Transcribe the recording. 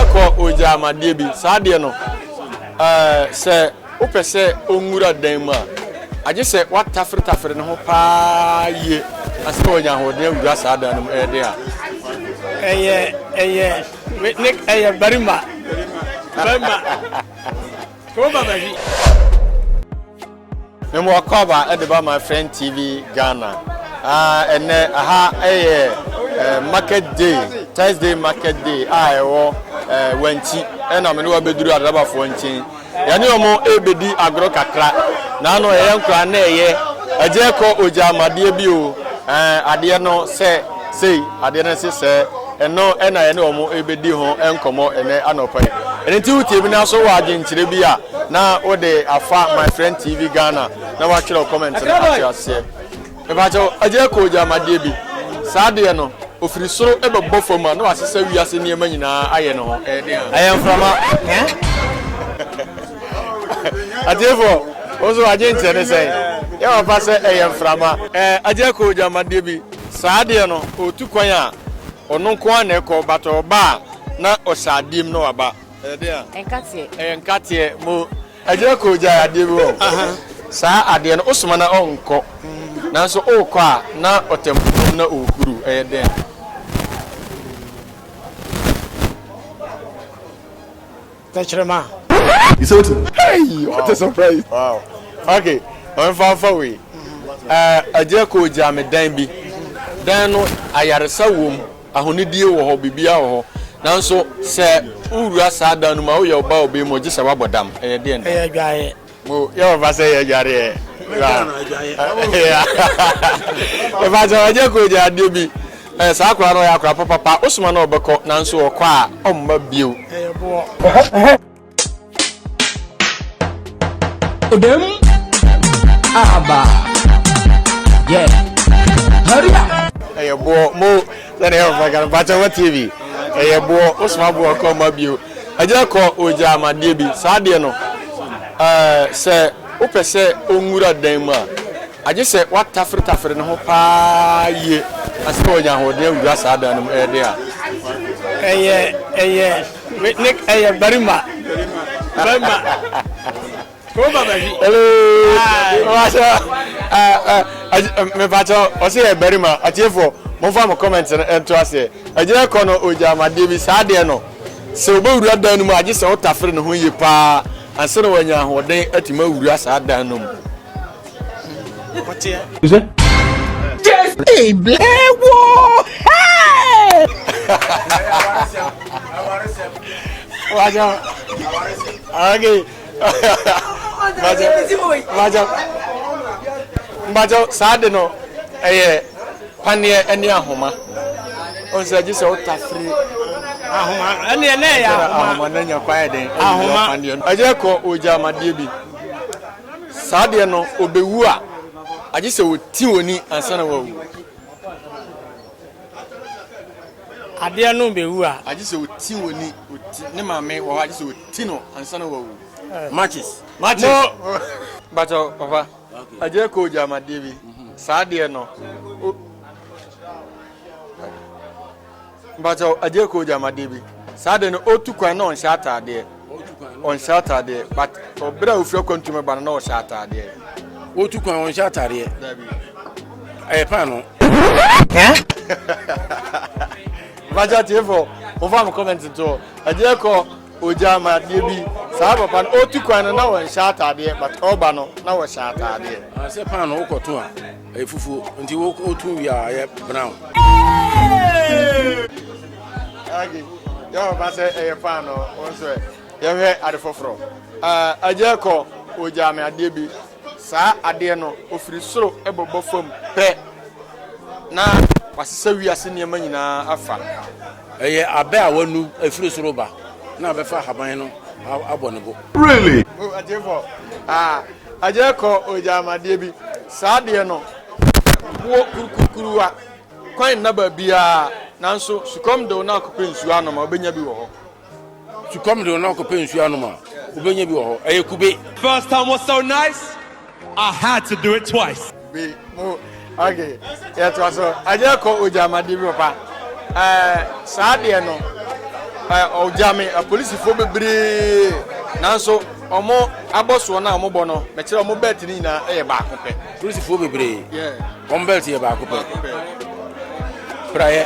Ɛkɔ ogya ama adeɛ bi. Saa adeɛ no, ɛɛ, sɛ wopɛ sɛ ɔnwura dan mu a, agye sɛ woataferetafere ne ho paa yie ansa na wanya ahoɔden awura saa dan no mu. Ɛyɛ den a. Ɛyɛ, ɛyɛ, ne, ɛyɛ barima. Barima. Kɔmɔ baba bi. Mewɔ Akwaaba de ba my friend TV Ghana. Ɛnɛ aha yɛ market day, Thursday market day a ɛwɔ Wanti ɛna mene wabɛduru Adrabafoɔ nkyɛn. Yɛne ɔmo ɛbɛdi agorɔ kakra na ano ɛyɛ nkora na ɛyɛ agya ɛkɔ ogya amadeɛ bi o adeɛ no sɛ sei adeɛ no se sɛ Ɛno na yɛne wɔn rebɛdi ho nkɔmmɔ ɛnɛ anɔpa yi. Ɛno nti wotie bi na so wɔ adwenkyerɛ bi a na wode afa My Friend TV Ghana na watwerɛ comment no ate aseɛ. Mepakyɛ agyina kɔ gyamadeɛ bi. Saa deɛ no ofiri soro bɛbɔ fam a na wasesa wiase nneɛma nyinaa ayɛ ne ho. Ɛyɛ mframa. Atiefoɔ, wo nso adwenkyerɛ ne sɛn? Yɛ wɔfa sɛ ɛyɛ mframa. Agyina kɔ gyamadeɛ bi. Saa adeɛ no, ɔretu kwan a, ɔno nko ara na ɛkɔ, but ɔba a, na ɔhyɛ adeɛ mu na waba. Ɛyɛ deɛn a? Nkateɛ. Ɛyɛ nkateɛ. Mo Agya Koo gyae adeɛ bi wɔ hɔ. Saa adeɛ no, wosoma no a, ɔnkɔ. Nanso worekɔ a, na ɔtɛmpo mu na ɔrehuru. Ɛyɛ deɛn a? Tɛkyerɛma. You say wetin? Hey! What a surprise! Wow. Ok, ma memfa mfa wei. Eh, agya koo gyaa me dan bi. Dan no, ayaresa wom, ahonidie wɔ hɔ, biribiara wɔ hɔ. Nanso sɛ wowura saa dan no mu a, woyɛ ɔbaa a ɔbɛn mu a, gye sɛ woabɔ dam. Ɛyɛ deɛn dan? Ɛyɛ adwaeɛ. Mo yɛ ɔfa sɛ yɛ dware ɛ. Ɛfa sɛ ɔnyɛ kɔ nya adeɛ bi. Ɛ saa akora no ɔyɛ akora papa pa. Osoma no ɔbɛkɔ nanso ɔkɔ a ɔmma bio. Ɛyɛ boɔ. Odem. Aba. Yeah. Hurry up. Ɛyɛ boɔ. Mo sɛ na yɛ ɔfa kan. Bakyɛ wɔ TV. Ɛyɛ boɔ. Osoma boɔ ɔkɔ ɔmma bio. Agya kɔ ogyaa me adeɛ bi, saa adeɛ no eh, sɛ wopɛ sɛ ɔnwura dan mu a, agye sɛ woataferetafere ne ho paa yie ansa na wanya ahoɔden awura saa dan no mu ɛyɛ den a. Ɛyɛ, ɛyɛ, ne, ɛyɛ barima, barima. mepakyɛ ɔsɛ yɛ barima atiefoɔ momfa mo comment no ɛnto aseɛ ɛgyina kɔ no ɔgya amadeɛ bi saa deɛ no sɛ wobɛwura dan no mu agye sɛ wotafere ne ho yie paa ansa na wanya ahoɔden atumi awura saa dan no mu Hey, Blair, whoa! Hey! Watch out. Okay. mbakyɛ saa de no ɛyɛ paneɛ ɛne ahoma ɔnsɛ gye sɛ ɔta firi ahoma ɛne ɛnɛ ɛyɛ ahoma na nya kwan ɛdɛn ahoma ɛyɛ kɔ ɔgya amadeɛ bi saa deɛ no ɔbɛwu a agye sɛ ɔti wɔni ansa na wawu Adeɛ no bɛwu a. Agye sɛ ɔti wɔ ni. Ɔti ne maame wɔ hɔ agye sɛ ɔti no ansa na wawu. Matches. Matches. Mo. Bakyɛ papa. Agye kɔ ogya ama deɛ bi. Saa deɛ no. Bakyɛ agye kɔ ogya ama deɛ bi. Saa deɛ no ɔtu kwan na ɔnhyɛ ataadeɛ. Ɔtu kwan no. Ɔnhyɛ ataadeɛ but ɔbere a ofiri akwantu mu ba no na ɔhyɛ ataadeɛ. Ɔtu kwan ɔnhyɛ ataadeɛ. Dabi. Ɛyɛ paano. Baja tiefo, ɔfa mo comment nto. Ɛdeɛ kɔ ogya ma adeɛ bi. Saa papa no ɔtu kwan no na ɔnhyɛ ataadeɛ but ɔba no na ɔhyɛ ataadeɛ. Sɛ paano wokɔto a. Ɛyɛ fufuo nti wo wo tu wie a ɛyɛ brown. Agi yɛ wɔ ba sɛ ɛyɛ paa no wɔn nso ɛ yɛhwɛ ade foforɔ. Agya kɔ ogya me adeɛ bi saa adeɛ no ofiri soro ɛbɔbɔ fam pɛ na wasesa wiase nneɛma nyinaa afa. Ɛyɛ abɛ a wɔanu afiri soro reba na abɛfa ahaban no abɔ ne bo. Really? Oh atiefɔɔ ah agyɛ kɔ ogyamadeɛ bi saa deɛ no boɔ kurukuruwa kwan nna baabiara nanso sukɔm dew na akɔpɛ nsuo anom a wobɛnya bi wɔ hɔ. Sukɔm de wo na wokɔpɛ nsuo anom a, wobɛnya bi wɔ hɔ. Ɛyɛ kube. First time was so nice, I had to do it twice. Be mo ok yɛtoa so ɛnyɛ kɔ ogyamade bi papa ɛɛ saa deɛ no ɛɛ ɔgyame apolisifoɔ bebree nanso ɔmo abɔsoɔ no a ɔmo bɔ no mɛkyerɛ ɔmo bɛɛt no nyinaa ɛyɛ baako pɛ. polisifoɔ bebree wɔn bɛɛt yɛ baako pɛ praeɛ.